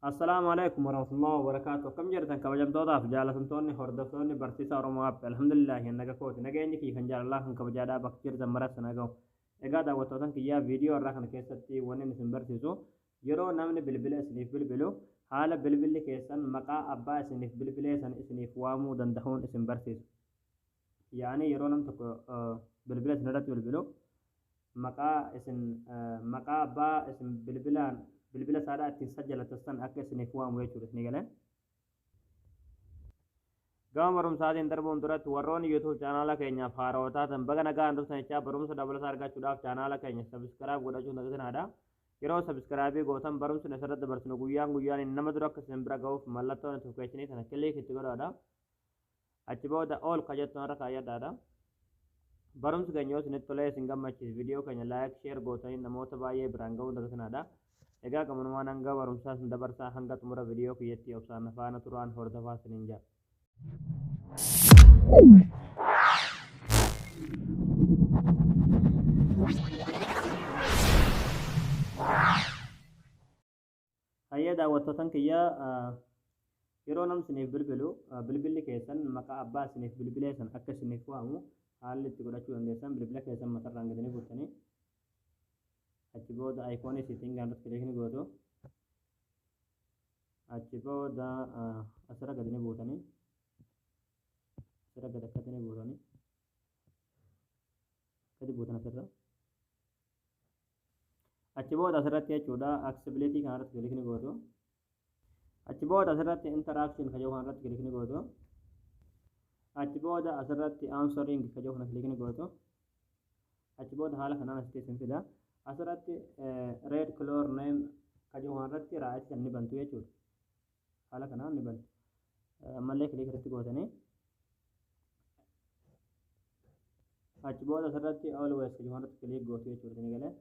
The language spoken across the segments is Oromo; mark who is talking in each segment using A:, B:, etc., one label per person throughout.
A: Assalaamu alaikum warahmatullahi wabarakaatu akkam jirtan kabajamtootaaf jaalatamtoonni hordoftoonni barsiisaa Oromoo App alhamdulillahi hin naga kooti nageenyi kiyya kan jaalalaa kan kabajaadhaa bakka jirtan maratti na gahu egaa daawwattootan kiyyaa viidiyoo irraa kana keessatti wanni isin barsiisu yeroo namni bilbila isiniif bilbilu haala bilbilli keessan maqaa abbaa isiniif bilbilee san isiniif waamuu danda'uun isin barsiisu yaani yeroo nam tokko bilbila isin irratti bilbilu maqaa isin maqaa abbaa isin bilbilaan bilbila isaadhaa ittiin sajjalatan san akka isiniif waamu jechuudha isinii galee. Gama barumsaatiin darbuun duratti warroonni YouTube chaanaala keenyaaf haarawa taatan baga nagaan dhuftan jechaa barumsa dabalataa argachuudhaaf chaanaala keenya sabiskiraayib godhachuun dagatinadha. Yeroo sabiskiraayibii gootan barumsi nu asirratti dabarsinu guyyaan guyyaan nama dura akka isin bira ga'uuf mallattoon notifikashinii kana kiliik itti godhaadha. Achi booda all ka jettu har'a kaayyadhaadha. Barumsi keenya yoo isinitti tolee isin gammachiise viidiyoo keenya like, share gootanii namoota baay'ee biraan ga'uun dagatinaadha. Egaa gamanumaan hanga barumsaa isin dabarsaa hanga xumura viidiyoo kiyyatti obsaan na faana turaan hordofaa isiniin jedha. Hayyee daawwattootan kiyya yeroo nam isiniif bilbilu bilbilli keessan maqaa abbaa isiniif bilbilee san akka isiniif waamu haalli itti godhachuu dandeessan bilbila keessan matarraan gadi ni buustanii achi booda ayikoonii siitingaan irratti kiliik ni gootu achi booda asirra gadi ni buutanii asirra gadi akkatti ni buutanii gadi buutan asirra achi booda asirratti jechuudha aksibileetii kana irratti kilikni gootu achi booda asirratti interaction kajoo kana irratti kilikni gootu achi booda asirratti answering kajoo kana kilikni gootu achi booda haala kanaan asitti isin fida asirratti red color name kajoo kana irratti raa'aatti kan ni bantu jechuudha Haala kanaan ni banti. Ammallee kiliik irratti gootanii achi booda asirratti always kan irratti kiliik gootu jechuudha isin galee.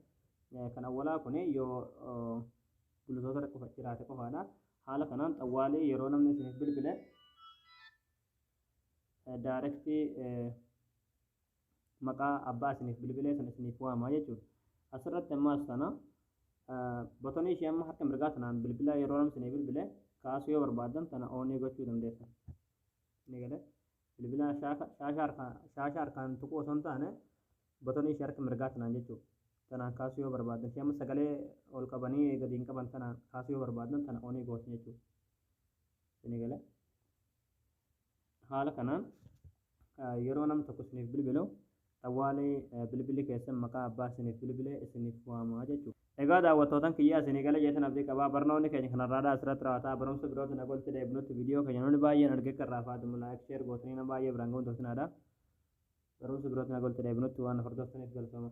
A: Kan awwalaa kun yoo gulutoota qofa jiraate qofaadha. Haala kanaan xawwaalii yeroo namni isiniif bilbile daarektii maqaa abbaa isiniif bilbilee sana isiniif waama jechuudha. Asirratti ammaas sana botonii ishee amma harka mirgaa sanaan bilbila yeroo namni isinii bilbile kaasuu yoo barbaaddan tana oonii gochuu dandeessan. Ni galee bilbila shaashaa harkaan tuquu osoo hin taane botonii ishee harka mirgaa sanaan jechuudha. Tanaan kaasuu yoo barbaaddan ishee amma sagalee ol qabanii gadi hin qaban tanaan kaasuu yoo barbaaddan tana oonii gootu jechuudha. Ni galee. Haala kanaan yeroo nam tokko isiniif bilbilu xawwaalii bilbilli keessan maqaa abbaa isiniif bilbilee isiniif waama jechu. Egaa daawwattootan kiyyaa isinii gale jeetan abdii qaba. Barnoonni keenya kanarraadha asirratti raawata. Barumsa birootin haga walitti deebinutti video keenya namni baay'een arge akka irraa faadamu like share gootanii nama baay'ee biraan ga'uun toosinaa dha. Barumsa birootin haga walitti deebinutti waan na hordoftaniif galatooma.